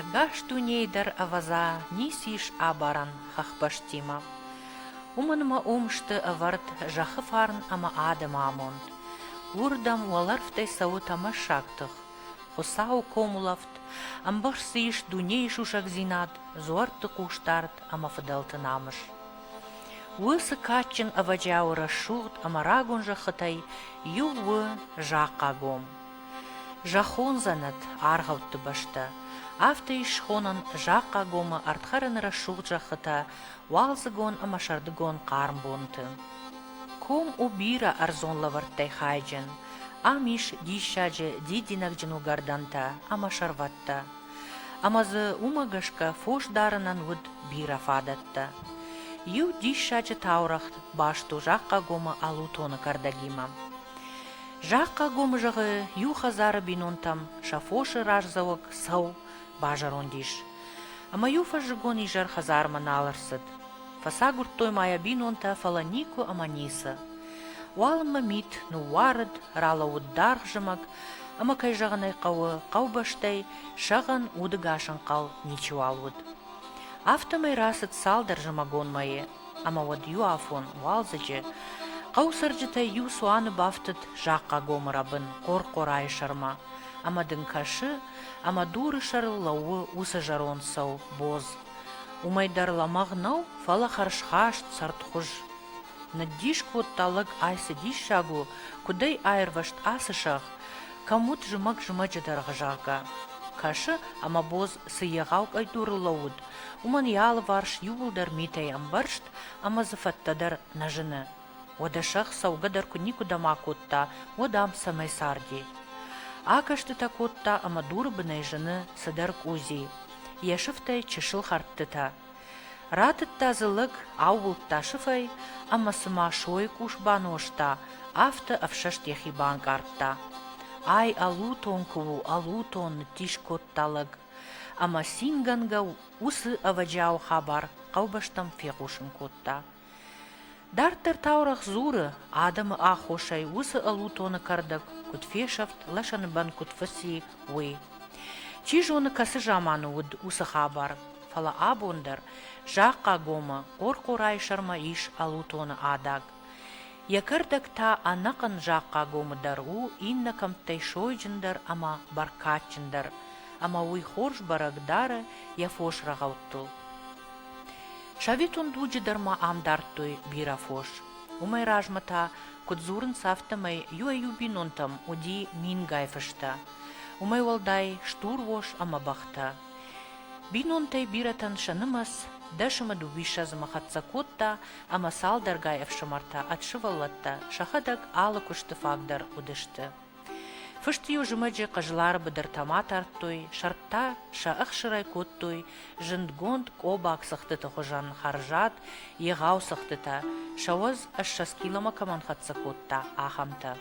Ӕгас дунейы дӕр ӕвӕдза ницы ис абарӕн хӕхбӕстимӕ. Уымӕн ӕмӕ уым сты ӕвӕрд зӕххы фарн ӕмӕ адӕмы амонд. Уырдӕм уӕлӕрвтӕй цӕуы тӕмӕссаг тых, Хуыцауы комулӕфт, ӕмбӕхст дзы ис дунейы сусӕгдзинад, дзуӕртты хъусдард ӕмӕ фыдӕлты намыс. Уыцы кадджын ӕвӕджиауы рӕсугъд ӕмӕ рагон зӕххытӕй иу у Захъагом. Зӕххон дзӕнӕт, аргъӕутты бӕстӕ. Афтӕ ис схонӕн Захъагомы ӕрдхӕрӕны рӕсугъд зӕххытӕ уалдзыгон ӕмӕ сӕрдыгон хъарм бонты. Ком у бирӕ ӕрдзон лӕвӕрттӕй хайджын. Ам ис диссаджы дидинӕгджын уыгӕрдӕнтӕ ӕмӕ сӕрвӕттӕ. Ӕмӕ дзы уымӕ гӕсгӕ фос дарынӕн уыд бирӕ фадӕттӕ. Иу диссаджы таурӕгъ баст у Захъхъагомы Алутоны кӕрдӕгимӕ. Захъхъагомы зӕгъы, иу хӕдзары бинонтӕм сӕ фосы раздзӕуӕг цӕу базӕронд ис. Ӕмӕ иу фӕззыгон изӕр хӕдзармӕ нал ӕрцыд. Фӕцагуырдтой ма йӕ бинонтӕ, фӕлӕ никуы ӕмӕ ницы. Уалынмӕ мит ныууарыд, ралӕууыд даргъ зымӕг, ӕмӕ, кӕй зӕгъын ӕй хъӕуы, хъӕубӕстӕй, сӕгъӕн, удыгас ӕнхъӕл ничиуал уыд. Афтӕмӕй рацыд цалдӕр зымӕгон мӕйы, ӕмӕ уӕд иу афон, уалдзыджы, хъӕуы цӕрджытӕй иу цуаны бафтыд Захъхъагомы рӕбын Хъор-Хъорайы сӕрмӕ, ӕмӕ дын кӕсы, ӕмӕ дуры сӕрыл лӕууы уыцы зӕронд сау бодз. Уымӕй дӕр лӕмӕгъ нӕу, фӕлӕ хӕрзхаст, цӕрдхуыз. Ныддис кодта лӕг ӕй цы диссаг у, куыд ӕй аирвӕзт ацы сӕгъ, кӕм уыд зымӕг-зымӕджы дӕргъы, зӕгъгӕ. Кӕсы, ӕмӕ бодз цы егъау къӕйдурыл лӕууыд, уымӕн йӕ алыварс иууылдӕр митӕй ӕмбӕрзт ӕмӕ дзы фӕдтӕ дӕр нӕ зыны. Уӕдӕ сӕгъ цӕугӕ дӕр куы никуыдӕм акодта, уӕд ам цӕмӕй царди? Акӕстытӕ кодта ӕмӕ дуры бынӕй зыны цыдӕр къузи, йӕ сыфтӕй чысыл хӕрдтытӕ. Ратыдта дзы лӕг, аууылдта сыфӕй ӕмӕ цыма сойы къус банозта, афтӕ ӕфсӕст йӕхи банкъардта. Ай ӕлутон куы у, ӕлутон, ныддис кодта лӕг. Ӕмӕ цингӕнгӕ уыцы ӕвӕджиауы хабар хъӕубӕстӕм фехъусын кодта. Дарддӕр таурӕгъ дзуры, адӕмы аххосӕй уыцы ӕлутоны кӕрдӕг куыд фесӕфт, лӕсӕны бӕн куыд фӕци, уый. Чи зоны, кӕцы заманы уыд уыцы хабар, фӕлӕ абон дӕр Захъхъагомы Хъорхъорайы сӕрмӕ ис ӕлутоны адаг. Йӕ кӕрдӕг та ӕнӕхъӕн Захъхъагомы дӕр у иннӕ кӕмттӕй сойджындӕр ӕмӕ бӕркадджындӕр, ӕмӕ уый хорз бӕрӕг дары йӕ фос рӕгъӕуттыл. Советон дуджы дӕр ма ам дардтой бирӕ фос. Уымӕй размӕ та, куыд дзурынц, афтӕмӕй иуӕй-иу бинонтӕм уыди мингай фыстӕ, уымӕй уӕлдай стур ос ӕмӕ бӕхтӕ. Бинонтӕй бирӕтӕн сӕ нымӕц дӕс ӕмӕ дыууиссӕдзымӕ хӕццӕ кодта ӕмӕ цалдӕргай ӕфсымӕртӕ ӕд сывӕллӕттӕ сӕхӕдӕг алы куысты фаг дӕр уыдысты. Фыст-иу зымӕджы хъызлары быдыртӕ-ма тардтой, сӕртӕ сӕ ӕхсырӕй кодтой зындгонд къобаг цыхтыты хуызӕн хӕрзад, егъау цыхтытӕ, сӕ уӕз ссӕдз киломӕ кӕмӕн хӕццӕ кодта, ахӕмтӕ.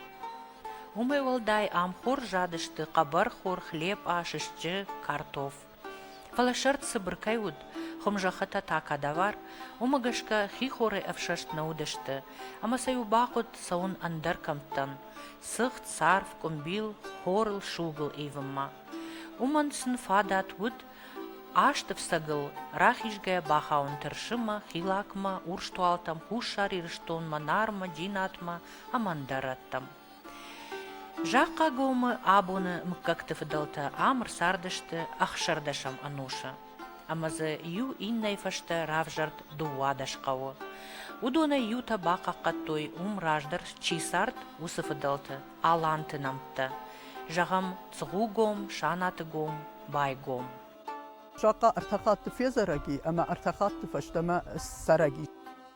Уымӕй уӕлдай ам хорз задысты хъӕбӕрхор, хлепъа, сыстджы, картоф. Фӕлӕ сӕрд цыбыр кӕй уыд, хуымзӕххытӕ та кадавар, уымӕ гӕсгӕ хихорӕй ӕфсӕст нӕ уыдысты, ӕмӕ сӕ-иу бахъуыд цӕуын ӕндӕр кӕмттӕм, цыхт, царв, къуымбил, хорыл, сугыл ивынмӕ. Уымӕн сын фадат уыд азты фцӕгыл рахизгӕ бахауын Тырсымӕ, Хилакмӕ, Урстуалтӕм, Хуссар Ирыстонмӕ, Нармӕ, Джинатмӕ ӕмӕ ӕндӕр рӕттӕм. Захъхъагомы абоны мыггӕгты фыдӕлтӕ ам ӕрцардысты ӕхсӕрдӕсӕм ӕнусы ӕмӕ дзы иу иннӕйы фӕстӕ равзӕрд дыууадӕс хъӕуы. Уыдонӕй иутӕ бахъахъхъӕдтой уым раздӕр чи цард, уыцы фыдӕлты аланты нӕмттӕ. Зӕгъӕм, Цгъугом, Санатыгом, Байгом. Захъхъа ӕртӕ хатты фезӕрӕг и ӕмӕ ӕртӕ хатты фӕстӕмӕ ссарӕг и.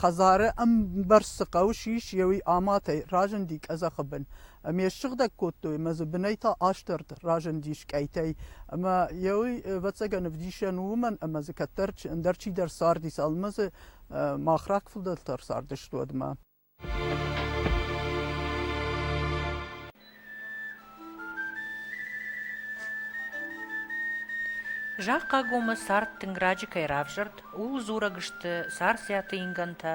Хӕдзары ӕмбӕрц цы хъӕуы сис, еуи аматӕй разынди къӕдзӕхы бын. Ме ссыгъдӕг кодтой мӕ дзы бынӕй та астӕрд разындис къӕйтӕй. Ӕмӕ еуи, ӕвӕццӕгӕн, ӕвдисӕн у уымӕн, ӕмӕ дзы кӕддӕр ӕндӕр чидӕр цардис, ӕмӕ дзы мах рак фыдӕлтӕ рцардысты уӕдмӕ. Зӕгъ Кагомы цард тынг раджы кӕй равзӕрд, ууыл дзурӕг сты, Царциаты ингӕнтӕ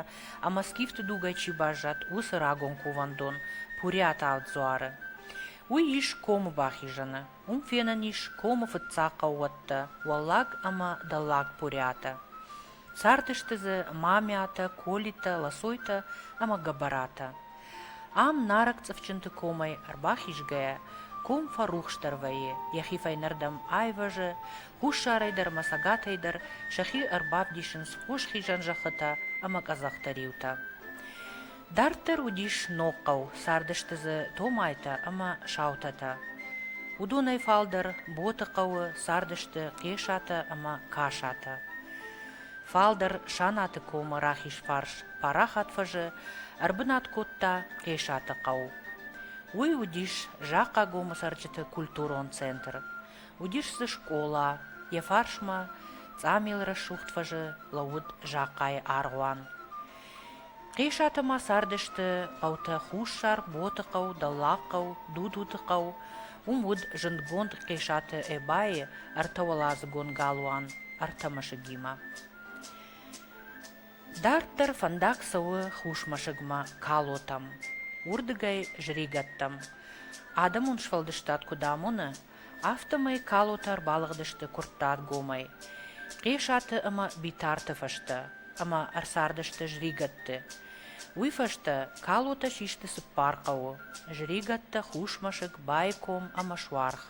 ӕмӕ скифты дугӕй чи баззад, уыцы рагон кувӕндон Пуриаталд дзуары. Уый ис комы бахизӕны. Уым фенӕн ис комы фыццаг хъӕууӕттӕ – Уӕллаг ӕмӕ Дӕллаг Пуриатӕ. Цардысты дзы мамӕтӕ, Колитӕ, Лосойтӕ ӕмӕ Гӕбӕратӕ. Ам, нарӕг цъыфджынты комӕй ӕрбахизгӕйӕ, ком фӕрухсдӕр вӕййы, йӕхи фӕйнӕрдӕм айвӕзы, хуссарӕй дӕр ӕмӕ цӕгатӕй дӕр сӕхи ӕрбавдисынц хос хизӕн зӕххытӕ ӕмӕ къӕдзӕхты риутӕ. Дарддӕр уыдис ног хъӕу, цардысты дзы Томайтӕ ӕмӕ Саутӕтӕ. Уыдонӕй фалдӕр Боты хъӕуы цардысты Хъесатӕ ӕмӕ Касатӕ. Фалдӕр Санаты комы рахизфарс парахат фӕзы ӕрбынат кодта Хъесаты хъӕу. Уый уыдис Захъагомы цӕрджыты культурон центр. Уыдис дзы скъола, йӕ фарсмӕ Цъамелрӕсугъд фӕзы лӕууыд Захъайы аргъуан. Къесатӕ ма цардысты хъӕутӕ Хуссар, Ботыхъӕу, Дӕллагхъӕу, Дудутыхъӕу, уым уыд зындгонд Къесаты Эбайы ӕртӕуӕладзыгон галуан Ӕртӕ мӕсыгимӕ. Дарддӕр фӕндаг цӕуы хусмӕсыгмӕ Калотӕм, уырдыгӕй Зригӕттӕм. Адӕмон сфӕлдыстад куыд амоны, афтӕмӕй калотӕ ӕрбалыгъдысты Куырттатгомӕй, Хъесаты ӕмӕ Битарты фӕстӕ, ӕмӕ ӕрцардысты Зригӕтты. Уый фӕстӕ калотӕ систы цыппар хъӕуы, Зригӕттӕ, Хусмӕсыг, Байком ӕмӕ Суарх.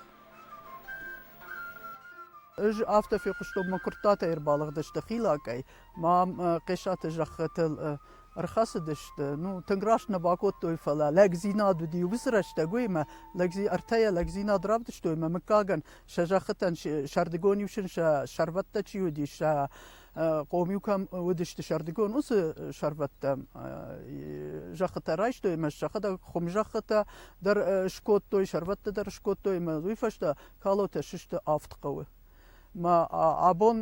Ӕз афтӕ фехъуыстон, мӕ Куырттатӕ ӕрбалыгъдысты Хилакъӕй, Мам Хъесаты зӕххытыл ӕрхӕцыдысты. Ну, тынг раст нӕ бакодтой, фӕлӕ лӕгдзинад уыди уыцы рӕстӕг, уыимӕ лӕгдзи ӕртӕйӕ лӕгдзинад равдыстой ӕмӕ мыггагӕн сӕ зӕххытӕн сӕрдыгон-иу сын сӕ сӕрвӕттӕ чи уыдис, сӕ хъом-иу кӕм уыдысты сӕрдыгон, уыцы сӕрвӕттӕ зӕххытӕ райстой ӕмӕ сӕхӕдӕг хуым зӕххытӕ дӕр скодтой, сӕрвӕттӕ дӕр скодтой ӕмӕ уый фӕстӕ калотӕ сысты авд хъӕуы. Абон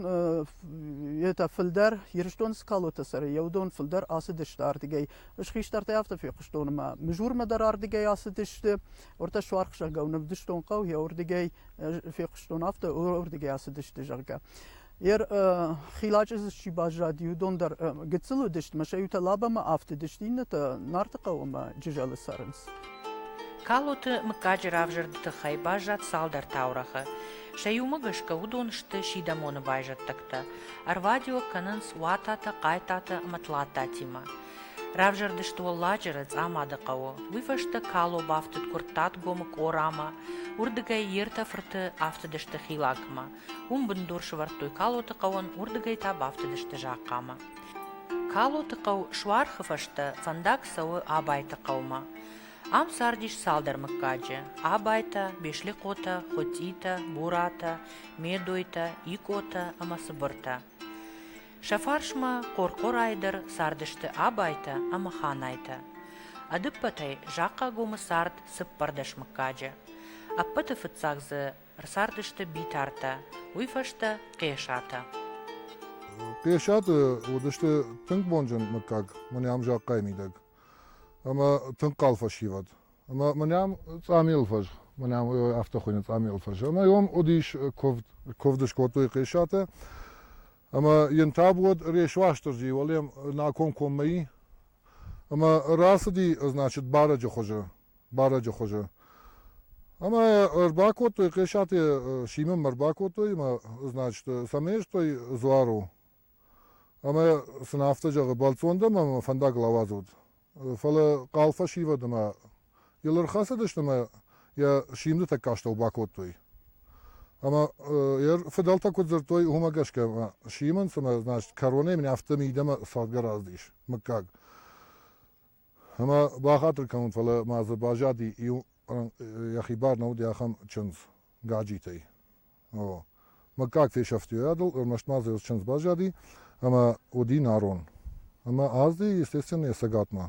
етӕ фулдӕр Ирыстоны скалойтӕ сӕрӕй еудон фулдӕр ацыдысты ардигӕй. Ӕз хистӕртӕй афтӕ фехъуыстон, ӕмӕ Мызурмӕ дӕр ардигӕй ацыдысты. Уӕртӕ суархсагау нӕвдыстон хъӕу, еу рдигӕй фехъуыстон афтӕ, уордигӕй ацыдысты, зӕгъгӕ. Ер хилачъызы чи баззад, иудон дӕр гыццыл уыдысты, мӕ сӕ иутӕ лабӕмӕ афтыдысты, иннӕтӕ Нарты хъӕумӕ Джызӕлы цӕрынц. Калоты мыггаджы равзӕрды тыххӕй баззад цалдӕр таурӕгъы. Сӕ иумӕ гӕсгӕ уыдон сты сидӕмоны байзӕддӕгтӕ, ӕрвадиуӕг кӕнынц Уататӕ, Хъайтатӕ ӕмӕ Тлаттатимӕ. Равзӕрдысты Уӕлладжыры, Цъамады хъӕуы. Уый фӕстӕ Кало бафтыд Куырттатгомы Къорамӕ, уырдыгӕй йе ртӕ фырты афтыдысты Хилакмӕ. Уым бындур сӕвӕрдтой Калоты хъӕуӕн, уырдыгӕй та бафтыдысты Захъхъамӕ. Калоты хъӕу суархы фӕстӕ фӕндаг цӕуы Абайты хъӕумӕ. Ам цардис цалдӕр мыггаджы: Абайтӕ, Беслӕкъотӕ, Хуытъитӕ, Буратӕ, Медойтӕ, Икъотӕ ӕмӕ Цыбыртӕ. Сӕ фарсмӕ Хъорхъорӕй дӕр цардысты абайтӕ ӕмӕ ханайтӕ. Ӕдппӕтӕй Захъхъагомы цард цыппӕрдӕс мыггаджы. Ӕппӕты фыццаг дзы ӕрцардысты Битартӕ, уый фӕстӕ Хъесатӕ. Хъесаты уыдысты тынг бонджын мыггаг, мын ӕм Захъхъайы мидӕг. ӕмӕ тынг хъал фӕсивӕд. Ӕмӕ мӕ нӕм Цъамелы фӕз, мӕ нӕм афтӕ хуыйны Цъамелы фӕз, ӕмӕ уым уыдис куывд, куывд скодтой Хъесатӕ, ӕмӕ йын таб уӕд Рес Уастырджи уӕле на комкоммӕ и, ӕмӕ рацыди, значит, барӕджы хуызы, барӕджы хуызы. Ӕмӕ ӕрбакодтой Хъесатӕ Симы мӕ ӕрбакодтой ӕмӕ, значит, сӕм ӕрстой Дзуару, Ӕмӕ сын афтӕ зӕгъы, Бӕлццон дӕм ӕмӕ мӕ фӕндагыл ауадз уд. Фӕлӕ хъал фӕсивӕд ӕмӕ йыл ӕрхӕцыдысты ӕмӕ йӕ симды тӕккӕ астӕу бакодтой. Ӕмӕ йӕ фыдӕлтӕ куыд дзырдтой, уымӕ гӕсгӕ ӕмӕ симын, цымӕ, значит, кӕронӕй мын афтӕ мидӕмӕ цӕгъдгӕ раздис, мыггаг. Ӕмӕ бахатыр кӕнут, фӕлӕ ма дзы баззади иу, йӕхи бар нӕ уыд йӕ ахӕм чындз, Гаджитӕй. О. Мыггаг фесӕфти уӕдыл, ӕрмӕст ма дзы йӕ чындз баззади, ӕмӕ уыди нарон. Ӕмӕ азди, естественно, йӕ цӕгатмӕ.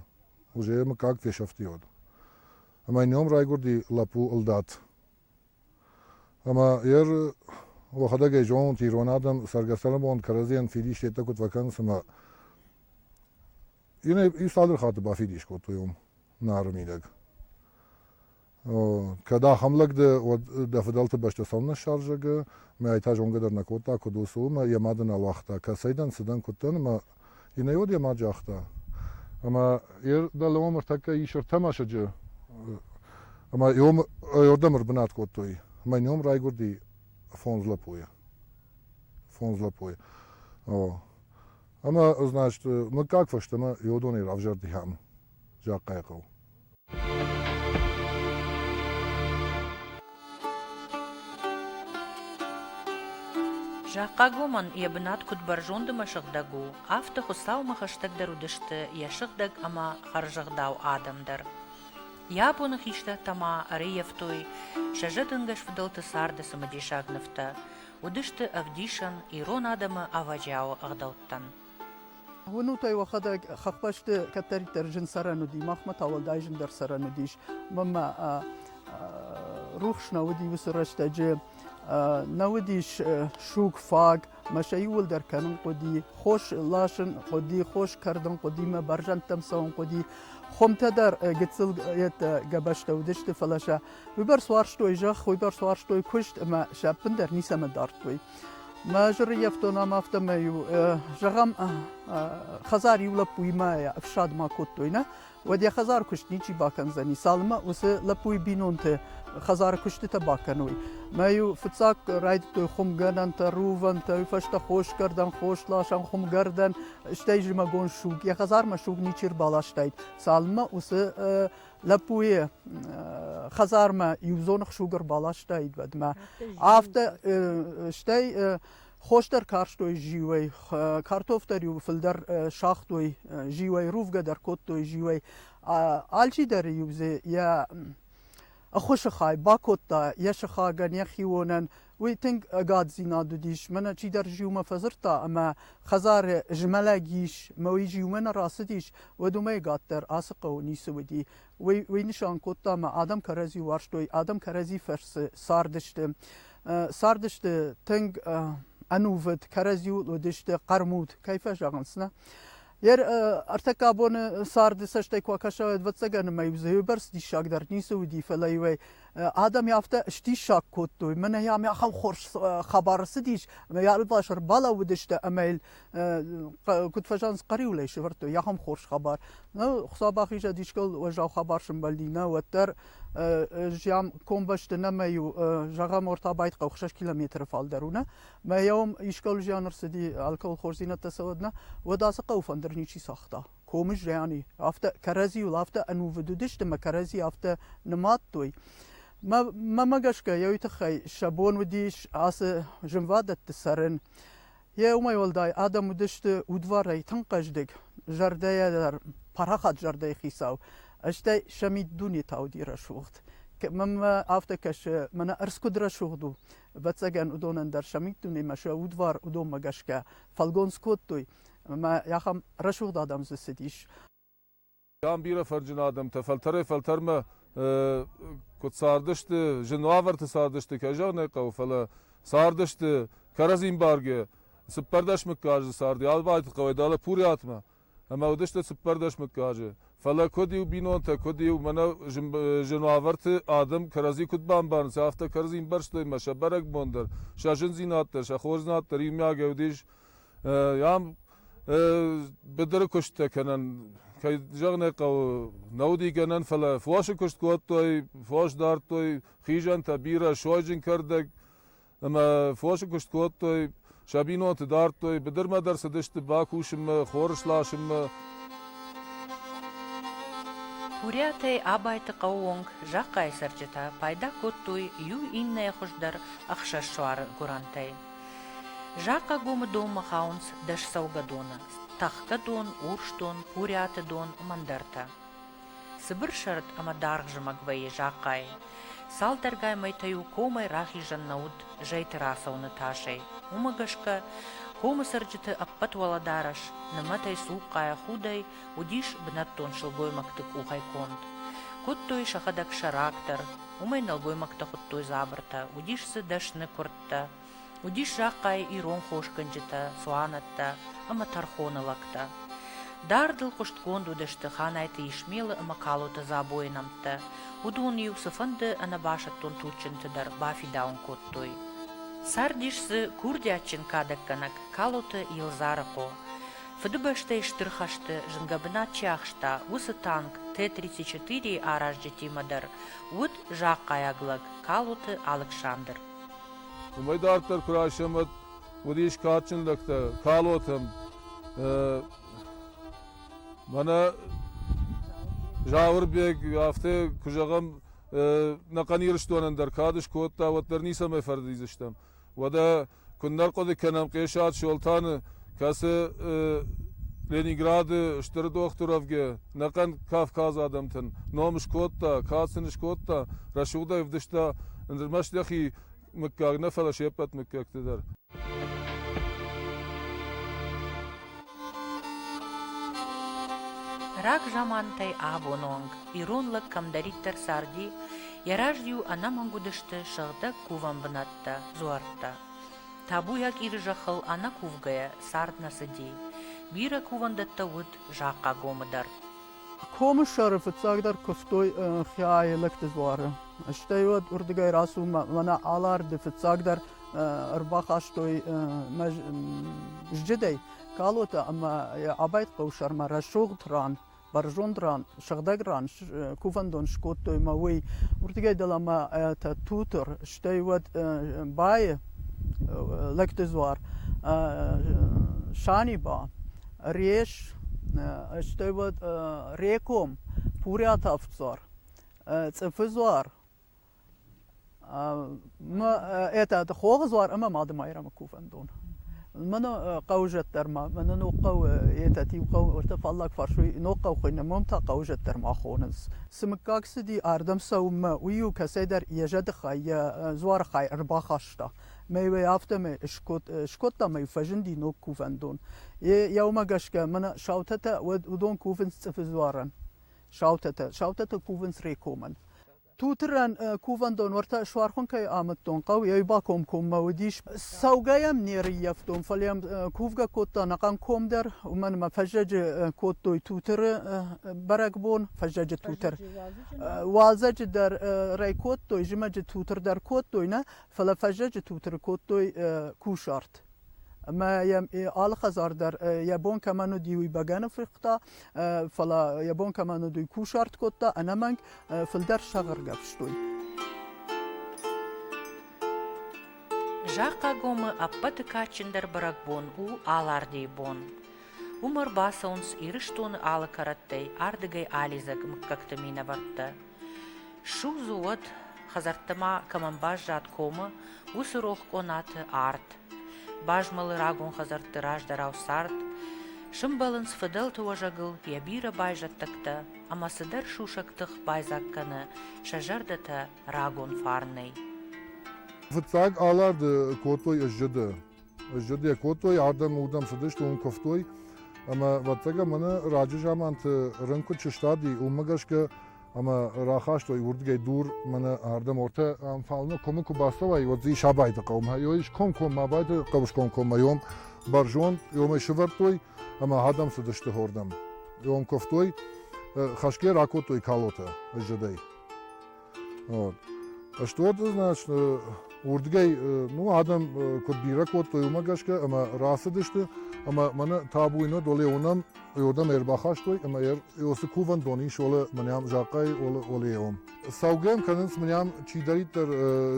Уже йӕ мыггаг фесӕфти уӕд. Ӕмӕ йын ном райгуырди лӕппу Ылдад. Ӕмӕ йӕ уӕхӕдӕг ӕй зонут, ирон адӕм цӕргӕ-цӕрӕнбон кӕрӕдзийӕн фидис йеддӕ куыд фӕкӕнынц ӕмӕ Ин ӕй цалдӕр хатты бафидис кодтой уым Нары мидӕг. Кӕд ахӕм лӕг дӕ, уӕд дӕ фыдӕлты бӕсты цӕуылнӕ ссӕрзӕгы? Мӕ айтӕ зонгӕ дӕр нӕ кодта, куыд у, цы у, мӕ йӕ мады нал уагъта, кӕцӕй дӕн, цы дӕн, куыд дӕн, ӕмӕ йын ӕй уӕд йӕ мад загъта. Ӕмӕ йӕ дӕлӕуӕм ӕртӕккӕ ис ӕртӕ мӕсыджы, ӕмӕ йӕрдӕм ӕрбынат кодтой. Мӕ ном райгуырди фондз лӕппуйы. Фондз лӕппуйы. Ӕмӕ, значит, мыггаг фӕстӕмӕ Иодонӕй равзӕрдыйӕм, Захъхъайы хъӕу. Захъхъагомӕн йӕ бынат куыд бӕрзонд ӕмӕ сыгъдӕг у, афтӕ Хуыцаумӕ хӕстӕгдӕр уыдысты йӕ сыгъдӕг ӕмӕ хӕрзӕгъдау адӕм дӕр. Йӕ абоны хистӕртӕ ма ӕрӕййӕфтой сӕ зӕдӕнгӕс фыдӕлты царды цымыдисаг нывтӕ. уыдысты ӕвдисӕн ирон адӕмы ӕвӕджиауы ӕгъдӕуттӕн. Уынут-ӕй, уӕхӕдӕг хӕхбӕсты кӕддӕриддӕр зын цӕрӕн уыди, махмӕ та уӕлдай зындӕр цӕрӕн уыдис. Мамӕ рухс нӕ уыди уыцы рӕстӕджы, нӕ уыдис суг, фаг, мӕ сӕ иууылдӕр кӕнын хъуыди, хос ласын хъуыди, хос кӕрдын хъуыди, мӕ бӕрзӕндтӕм цӕуын хъуыди. Хуымтӕ дӕр гыццыл гӕбӕзтӕ уыдысты, фӕлӕ сӕ Уый бар суарзтой зӕхх, уый бар суарзтой куыст ӕмӕ сӕ ӕппындӕр ницӕмӕ дардтой. Мӕ жырыйӕфтонам афтӕмӕй-иу зӕгъӕм, хӕдзар иу лӕппуимӕ ӕфсад ма кодтой, нӕ? Уӕд йӕ хӕдзары куыст ничи бакӕндзӕни, цалынмӕ уыцы лӕппуйы бинонты хӕдзары куыстытӕ бакӕной. Мӕ-иу фыццаг райдыдтой хуымгӕнӕнтӕ, рувӕнтӕ, уый фӕстӕ хосгӕрдӕн, хосласӕн, хуымгӕрдӕн, стӕй зымӕгон суг. Йӕ хӕдзармӕ суг ничи ӕрбаластаид, цалынмӕ уыцы лӕппуйы хӕдзармӕ иу зоны хсуг ӕрбаластаид уӕдмӕ. Афтӕ, стӕй хосдӕр карстой зиуӕй, картофтӕр-иу фылдӕр сагътой зиуӕй, рувгӕ дӕр кодтой зиуӕй. Алчидӕр-иу дзы йӕ ӕххуысы хай бакодта йӕ сыхагӕн, йӕ хионӕн, Уый тынг ӕгаддзинад уыдис, мӕнӕ чидӕр зиумӕ фӕдзырдта ӕмӕ хӕдзары змӕлӕг ис мӕ уый зиумӕ нӕ рацыдис, уӕд уымӕй къаддӕр ацы хъӕуы ницы уыди. Уый уый нысан кодта ӕмӕ адӕм кӕрӕдзи уарзтой, адӕм кӕрӕдзи фӕрцы цардысты. Цардысты тынг ӕнувыд, кӕрӕдзиуыл уыдысты хъӕрмуд, кӕй фӕзӕгъынц, нӕ. Йе ӕртӕккӕ боны царды цӕстӕй куы акӕса, ӕвӕццӕгӕн ӕмӕ-иу дзы иуӕрц диссагдӕр ницы уыди, фӕлӕ-иу ӕй адӕм афтӕ сдиссаг кодтой. Мӕнӕ йӕм ахӕм хорз хабар цыдис, ӕмӕ йӕ ӕлвас ӕрбалӕууыдысты ӕмӕ йыл куыд фӕзӕнс хъӕриуылӕй сӕвӕрдтой ахӕм хорз хабар. Нӕ Хуыцау бахизӕд искӕл уӕззау хабар сӕмбӕлди, нӕ уӕддӕр зиан комбӕсты нӕмӕ-иу зӕгъӕм ортабайт хъӕу 6 километры фалдӕр у, нӕ? Мӕ йӕ уым искӕл зиан ӕрцыди, алкӕуыл хорздзинӕдтӕ цӕуӕд, нӕ? Уӕд ацы хъӕуы фӕндыр ничи цагъта. комы зиани, афтӕ кӕрӕдзиуыл афтӕ ӕнувыд уыдысты мӕ кӕрӕдзи афтӕ нымадтой. Мӕмӕ гӕсгӕ йӕ тыххӕй сӕ бон уыдис ацы зынвадӕтты цӕрын. Йе уымӕй уӕлдай адӕм уыдысты удварӕй тынг хъӕздыг, зӕрдӕйӕ дӕр парахат зӕрдӕйы хицау, стӕй сӕ миддунетӕ уыди рӕсугъд. Мӕнмӕ афтӕ кӕсы, мӕнӕ ӕрдз куыд рӕсугъд у. Ӕвӕццӕгӕн уыдонӕн дӕр сӕ миддунемӕ сӕ удвар уыдонмӕ гӕсгӕ фӕлгонц кодтой. ӕмӕ ахӕм рӕсугъд адӕм дзы цыдис. Кӕм бирӕ фӕрджын адӕмтӕ фӕлтӕрӕй-фӕлтӕрмӕ куыд цардысты, зын уавӕрты цардысты, кӕй зӕгъын ӕй хъӕуы, фӕлӕ цардысты кӕрӕдзин бӕргӕ цыппӕрдӕс мыггаджы царди Ӕлбайты хъӕуӕй далӕ Пурӕтмӕ ӕмӕ уыдысты цыппӕрдӕс мыггаджы. Фӕлӕ куыд-иу бинонтӕ, куыд-иу мӕнӕ зын уавӕрты адӕм кӕрӕдзи куыд бамбарынц, афтӕ кӕрӕдзин бӕрстой мӕ сӕ бӕрӕгбон дӕр, сӕ зындзинад дӕр, сӕ хорздзинад дӕр иумиагӕй уыдис ам быдыры куысттӕ кӕнӕн кӕй зӕгъын ӕй хъӕуы, нӕ уыди гӕнӕн, фӕлӕ фосы куыст кодтой, фос дардтой хизӕнтӕ, бирӕ сойджын кӕрдӕг, ӕмӕ фосы куыст кодтой, сӕ бинонты дардтой, быдырмӕ дӕр цыдысты бакусынмӕ, хор сласынмӕ. Куриатӕй Абайты хъӕуы онг захъхъайы цӕрджытӕ пайда кодтой иу иннӕйы хуыз дӕр ӕхсӕз суары гуырӕнтӕй. Закъӕгомы донмӕ хауынц дӕсцӕугӕдоны: Тӕхгӕдон, Урсдон, Курӕты дон, мӕндӕртӕ. Цыбыр сӕрд ӕмӕ даргъ зымӕг вӕййы закъайы. Цалдӕргай мӕйтӕ-иу комӕй рахизӕн нӕ уыд зӕйты рацӕуыны тасӕй. Уымӕ гӕсгӕ комы цӕрджыты ӕппӕт уӕлӕдарӕс, нымӕтӕй цухъхъайӕ худӕй, уыдис бынӕттон сылгоймӕгты къухӕй конд. Кодтой сӕхӕдӕг сӕрак дӕр. Уымӕй нӕлгоймӕгтӕ хуыдтой дзабыртӕ. Уыдис дзы дӕсны куырд, лӕгтӕ. Уыдис зӕххӕй ирон хосгӕнджытӕ, цуанӕттӕ ӕмӕ тӕрхоны лӕгтӕ. Дардыл хъуыстгонд уыдысты Ханайты Исмелы ӕмӕ Калоты Дзабойы нӕмттӕ. Уыдон-иу цыфӕнды ӕнӕбасӕттон туджджынты дӕр бафидауын кодтой. Цардис дзы курдиатджын кадӕггӕнӕг Калоты Елдзарыхъо. Фыдыбӕстӕйы Стыр хӕсты зынгӕ бынат чи ахста, уыцы танк Т-34-йы аразджытимӕ дӕр уыд зӕххӕйаг лӕг Калоты Алыксандр. Уымӕй дарддӕр куы расӕмбӕлд, уыдис кадджын лӕгтӕ Калотӕм. Мӕнӕ Зауырбег, афтӕ куы зӕгъӕм, нӕхъӕн Ирыстонӕн дӕр кад скодта, уӕддӕр ницӕмӕй фӕрдидзыстӕм. Уӕдӕ куыннӕ хъуыды кӕнӕм Хъесат Солтаны кӕцы Ленинграды стыр дохтыровгӕ ӕнӕхъӕн Кавказ адӕмтӕн ном скодта, кад сын скодта, рӕсугъдӕй ӕвдыста ӕрмӕст йӕхи мыггаг нӕ, фӕлӕ се ппӕт мыггӕгты дӕр. Рагзамантӕй абон онг ирон лӕг кӕмдӕриддӕр царди, йӕ раз-иу ӕнӕмӕнг уыдысты сыгъдӕг кувӕн бынӕттӕ, дзуӕрттӕ. Табуйаг Иры зӕххыл ӕнӕкувгӕйӕ цард нӕ цыди. Бирӕ кувӕндӕттӕ уыд Захъхъагомы дӕр. Комы сӕры фыццагдӕр куывтой Хиаелыкты дзуары. Стӕй уӕд уырдыгӕй рацуммӕ мӕнӕ Аларды фыццагдӕр ӕрбахастой мӕ зджыдӕй калотӕ ӕмӕ йӕ абайт хъӕу сӕрмӕ рӕсугъд ран бӕрзонд ран, сыгъдӕг ран кувӕндон скодтой мӕ уый, уырдыгӕй дӕлӕмӕ ӕтӕ тутыр, стӕй уӕд байы лӕгты дзуар, Саниба, Реш, стӕй уӕд Реком, Пурӕтавддзар, Цъыфы дзуар, Етӕ хохи дзуар ӕма Мады Майрӕмы кувӕндон. Мӕн хъӕузӕт дӕр ма, мӕнӕ ногхъӕу, етӕ еугъӕу уотӕ фаллаг фарсуй, ногхъӕу хуӕйнӕ, мӕм та хъӕузӕт дӕр ма хонынц. Цы мыггаг цыди, ардӕм цӕуынмӕ, уый-иу кӕцӕйдӕр йӕ зӕдыхай, йӕ дзуары хай ӕрбахаста. Мӕй-уӕй афтӕмӕй скодта мӕ фӕзынди ног кувӕндон. Еумӕ гӕсгӕ мӕнӕ саутӕтӕ, уыдон кувынц цъыфы дзуарӕн. Саутӕтӕ, саутӕтӕ кувынц Рекомӕн. Туты ран кувӕндон уӕртӕ суархон кӕй амыдтон хъӕу, ей бакомкоммӕ уыдис. Цӕугӕ йӕм не рыййӕфтон, фӕлӕ йӕм кувгӕ кодтон ахӕм ком дӕр, уымӕн ӕмӕ фӕззӕджы кодтой Тутыры бӕрӕгбон, фӕззӕджы Тутыр. Уалдзӕджы дӕр рӕй кодтой, зымӕджы Тутыр дӕр кодтой нӕ, фӕлӕ фӕззӕджы Тутыры кодтой кусарт. ӕмӕ йӕ алы хӕдзар дӕр йӕ бон кӕмӕн уыди, уый бӕгӕны фыркъуыта, фӕлӕ йӕ бон кӕмӕн уыд, уый кусарт кодта, ӕнӕмӕнг фылдӕр сӕгъыргӕ фыстой. Захъагомы ӕппӕты кадджындӕр бӕрӕгбон у Алардейы бон. Уым ӕрбацӕуынц Ирыстоны алы кӕрӕттӕй ардыгӕй алидзӕг мыггӕгты минӕвӕрттӕ. Судзы уӕд, хӕдзӕртты ма кӕмӕн баззад комы, уыцы рох къонаты арт. Базмӕлы рагон хӕдзӕртты раздӕрау цард, сымбӕлынц фыдӕлты уӕзӕгыл йӕ бирӕ байзӕддӕгтӕ, ӕмӕ цыдӕр сусӕг тых байдзаг кӕны сӕ зӕрдӕтӕ рагон фарнӕй. Фыццаг аларды кодтой ӕззӕдӕ. Сзыд йӕ кодтой, ардӕм уырдӕм цыдысты, уым куывтой. Ӕмӕ ӕвӕццӕгӕн мӕнӕ раджы заманты рын куыд сыстади, уымӕ гӕсгӕ ӕмӕ рахастой уырдыгӕй дур мӕнӕ ардӕм ортӕ ӕмфалны комы куы бацӕуай, уӕд дзы ис Абайды хъӕумӕ, io ис комкоммӕ Абайды хъӕбысгонд коммӕ, ом бӕрзонд, иомӕй сывӕрдтой ӕмӕ адӕм цыдысты хордӕм. Ом куывтой, хӕсгӕ ракодтой калотӕ сзыдӕй. Стъолты значны уырдгӕй ну адӕм куыд бирӕ кодтой, уымӕ гӕсгӕ ӕмӕ рацыдысты ӕмӕ мӕнӕ табуйы нӕ доле уынӕм Иордан ӕрбахастой ӕмӕ Иосы кувӕндон ис олы мынӕм закъайы олы олеон. Саугӕм кӕнынц мынӕм чидӕриддӕр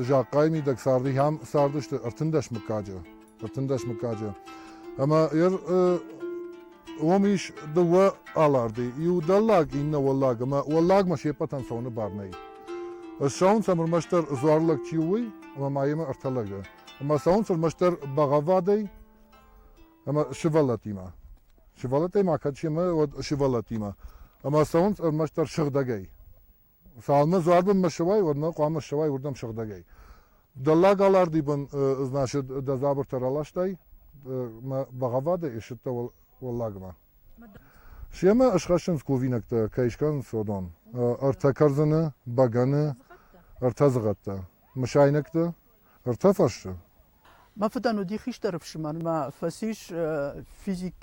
закъайы мидӕг царды хӕм цардысты ӕртындӕс мыггаджы. ӕртындӕс мыггаджы. Ӕмӕ уым ис дыууӕ аларды, иу дӕллаг, иннӕ уӕллаг, ӕмӕ уӕллагмӕ се ппӕтӕн цӕуыны бар нӕй. Ссӕуынц ӕм ӕрмӕстдӕр дзуар лӕг чи у, ӕмӕ ма йемӕ ӕртӕ лӕгы. Ӕмӕ цӕуынц ӕрмӕстдӕр бӕгъӕввадӕй ӕмӕ сывӕллӕттимӕ. Сывӕллӕттӕй ма кӕд семӕ, уӕд сывӕллӕттимӕ. Ӕмӕ цӕуынц ӕрмӕстдӕр сыгъдӕгӕй. Цалынмӕ дзуардонмӕ ссӕуай, уӕдмӕ хъуамӕ ссӕуай уырдӕм сыгъдӕгӕй. Дӕллаг аларди бын значит, дӕ дзабыртӕ раластай мӕ бӕгъӕввадӕй ссыдтӕ уӕллагмӕ. Семӕ ысхӕссынц кувинӕгтӕ, кӕй скӕнынц уыдон. Ӕртӕ кӕрдзыны, бӕгӕны, ӕртӕ зыгъӕттӕ. Мысайнӕгты? Ӕртӕ фӕрсты? Мӕ фыдӕн уыди хистӕр ӕфсымӕр, мӕ фӕцис физик,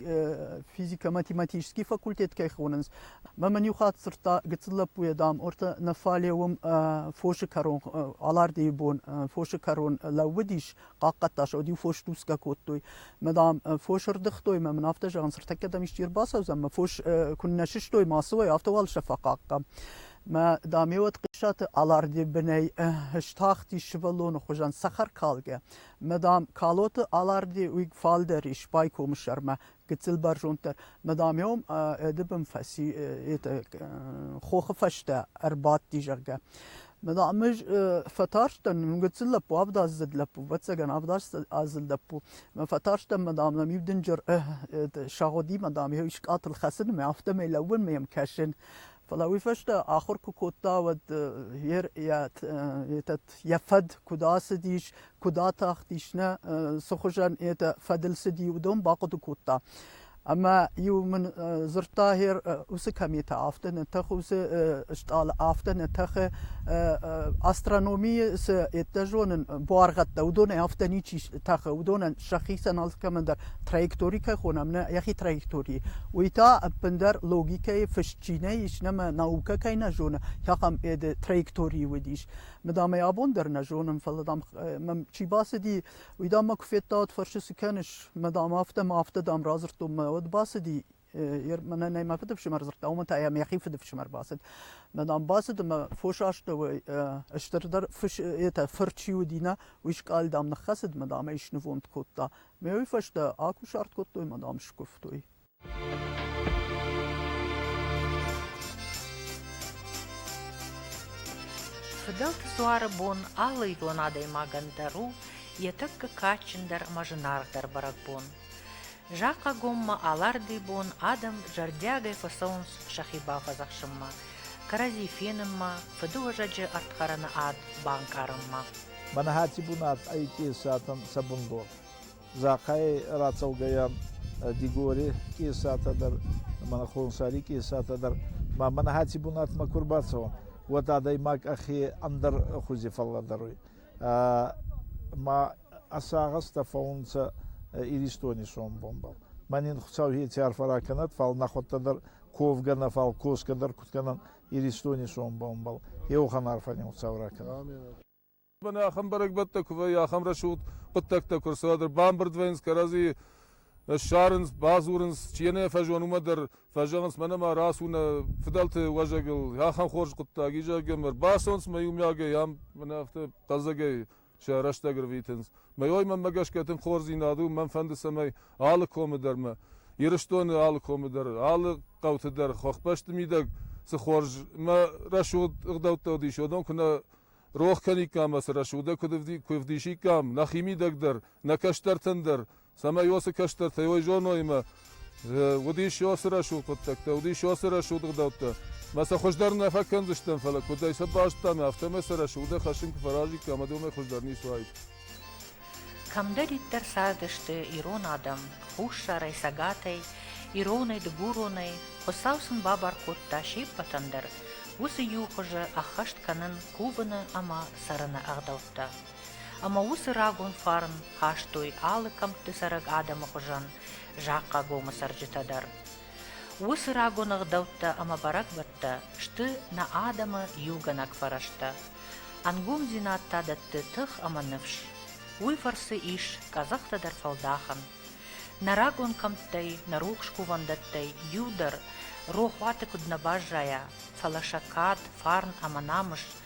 физико-математический факультет кӕй хонынц. Мӕ мын иу хатт дзырдта гыццыл лӕппуйӕ, дам, ортӕ нӕ фӕлӕ уым фосы кӕрон, Алардейы бон фосы кӕрон лӕууыдис, хъахъхъӕдта сӕ, уӕд-иу фос тусгӕ кодтой. Мӕ, дам, фос ӕрдыгътой мӕ мын афтӕ зӕгъын, цыртӕккӕ дӕм исчи ӕрбацӕудзӕн, мӕ фос куыннӕ сыстой, ма цы уай, афтӕ уал сӕ фӕхъахъхъӕм. Мӕ даме уӕд Хъисаты Аларде бынӕй стахти сывӕллоны хуызӕн цӕхӕркалгӕ. Мӕ дам, Калоты Аларде уый фалдӕр ис байкомы сӕрмӕ гыццыл бӕрзонддӕр. Мӕ даме ом ӕды бын фӕци хохы фӕстӕ ӕрбадти, зӕгъгӕ. Мӕ дам, ӕз фӕтарстӕн, мын гыццыл лӕппу, авдаздзыд лӕппу, ӕвӕццӕгӕн авдаздзыд лӕппу. Мӕ фӕтарстӕн, мӕ дам, нӕм иу дынджыр сагъуди, мӕ дам, йӕ скъӕтыл хӕцын, мӕ афтӕмӕй лӕууын, мӕ йӕм кӕсын. Фӕлӕ уый фӕстӕ ахуыр куы кодта, уӕд этот, йӕ фӕд куыд ацыдис, куыд атахтис нӕ, цы хуызӕн это фӕдыл цыди, уыдон бахъуыды кодта. Ӕмӕ-иу мын дзырдта, гьер уыцы кометӕ афтӕ нӕ тӕхы, уыцы стъалы афтӕ нӕ тӕхы, астрономийы цы, еттӕ зонын, буаргъӕдтӕ, уыдонӕй афтӕ ничи тӕхы, уыдонӕн сӕхицӕн алкӕмӕн дӕр Траектори кӕй хонӕм нӕ йӕхи траекторийы, уый та ӕппындӕр логикӕйы фыст чи нӕ ис, нӕмӕ наукӕ кӕй нӕ зоны, ахӕм ӕды траекторийы уыдис. Мыдам ӕй абон дӕр нӕ зонын, фӕлӕ дам мӕм чи бацыди, уый дам мӕ куы федтаид, фӕрсы, цы кӕныс, мыдам, афтӕ мӕ афтӕ дам радзырдтон мӕ уӕд бацыди мӕнӕ нӕ мӕ фыдыфсымӕр дзырдта, уымӕн та йӕм йӕхи фыдыфсымӕр бацыд. Мӕнӕм бацыд ӕмӕ фос астӕуӕй стырдӕр фыс это фыр чи уыди нӕ, уый скъӕлдам ныххӕцыд, мадам ӕй снывонд кодта. Мӕ уый фӕстӕ акусарт кодтой, мадам скуывтой. Фыдӕлты дзуары бон алы идон адӕймагӕн дӕр у йӕ тӕккӕ кадджындӕр ӕмӕ зынаргъдӕр бӕрӕгбон. Закъӕгоммӕ алӕрдыйы бон адӕм зӕрдиагӕй фӕцӕуынц сӕхи бафӕдзӕхсынмӕ, кӕрӕдзи фенынмӕ, фыдыуӕзӕджы ӕрдхӕрыны ад банкъарынмӕ. Маныхӕсти бунат ӕй Къесатӕн сӕ бундор. Захъӕй рацӕугӕйӕ Дигори Къесатӕ дӕр, Мӕнхонсари Къесатӕ дӕр ма Маныхӕсти бунатмӕ ку рбацӕуӕн, уӕд адӕймаг ӕхе ӕндӕр хузи фӕллӕдӕруй. ма ӕ сагъӕстӕ фӕуунцӕ Иристони сомбонбӕл. Ма нин Хуцауи еци арфӕ ракӕнӕд, фал нӕхуӕдтӕ дӕр ковгӕ нӕ, фал косгӕ дӕр куд кӕнӕн Иристони сомбонбӕл. Еухан арфӕни Хуцау ракӕнӕд. Бӕнӕ ахӕм бӕрӕгбӕттӕ куы вӕййы, ахӕм рӕсугъд хъуыддӕгтӕ куы ӕрцӕуӕд, бамбырд вӕййынц кӕрӕдзийы Ссарынц, бадзурынц, чи йӕ нӕ фӕзон, уымӕ дӕр фӕзӕгъынц, мӕнӕ ма рацу нӕ фыдӕлты уӕзӕгыл, ахӕм хорз хъуыддаг, и, зӕгъгӕ, мӕ рбацӕуынц мӕ иумиагӕй, ам мӕнӕ афтӕ хъӕлдзӕгӕй сӕ рӕстӕг ӕрвитынц. Мӕ ой мӕнмӕ гӕсгӕ тынг хорздзинад у, мӕн фӕнды цӕмӕй алы комы дӕр мӕ Ирыстоны алы комы дӕр, алы хъӕуты дӕр хӕхбӕсты мидӕг цы хорз мӕ рӕсугъд ӕгъдӕуттӕ уыдис, уыдон куы нӕ рох кӕниккам ӕцы рӕсугъдӕй куы ӕвдисиккам нӕхимидӕг дӕр, нӕ кӕстӕртӕн дӕр, цӕмӕй уоцы кӕстӕртӕй уой зоной ӕмӕ уыдис уыцы рӕсугъд хъуыддӕгтӕ, уыдис уыцы рӕсугъд ӕгъдӕуттӕ. Мӕ сӕ хуыздӕр нӕ фӕкӕндзыстӕм, фӕлӕ куыдӕй сӕ бастам, афтӕмӕй сӕ рӕсугъдӕр хӕссын куы фӕразиккам, уӕд уымӕй хуыздӕр ницы уаид. Кӕмдӕриддӕр цардысты ирон адӕм, хуссарӕй, цӕгатӕй, иронӕй, дыгуронӕй, Хуыцау сын бабар кодта се ппӕтӕн дӕр уыцы иу хуызы ӕххӕст кӕнын кувыны ӕмӕ цӕрыны ӕгъдӕуттӕ. Ӕмӕ уыцы рагон фарн хастой алы кӕмтты цӕрӕг адӕмы хуызӕн Захъхъагомы цӕрджытӕ дӕр. Уыцы рагон ӕгъдӕуттӕ ӕмӕ бӕрӕгбӕттӕ сты нӕ адӕмы иугӕнӕг фӕрӕзтӕ. Ӕнгомдзинад та дӕтты тых ӕмӕ ныфс. Уый фӕрцы ис къӕдзӕхтӕ дӕр фӕлдахӕн. Нӕ рагон кӕмттӕй, нӕ рухс кувӕндӕттӕй иу дӕр рохуаты куыд нӕ баззайа, фӕлӕ сӕ кад, фарн ӕмӕ намыс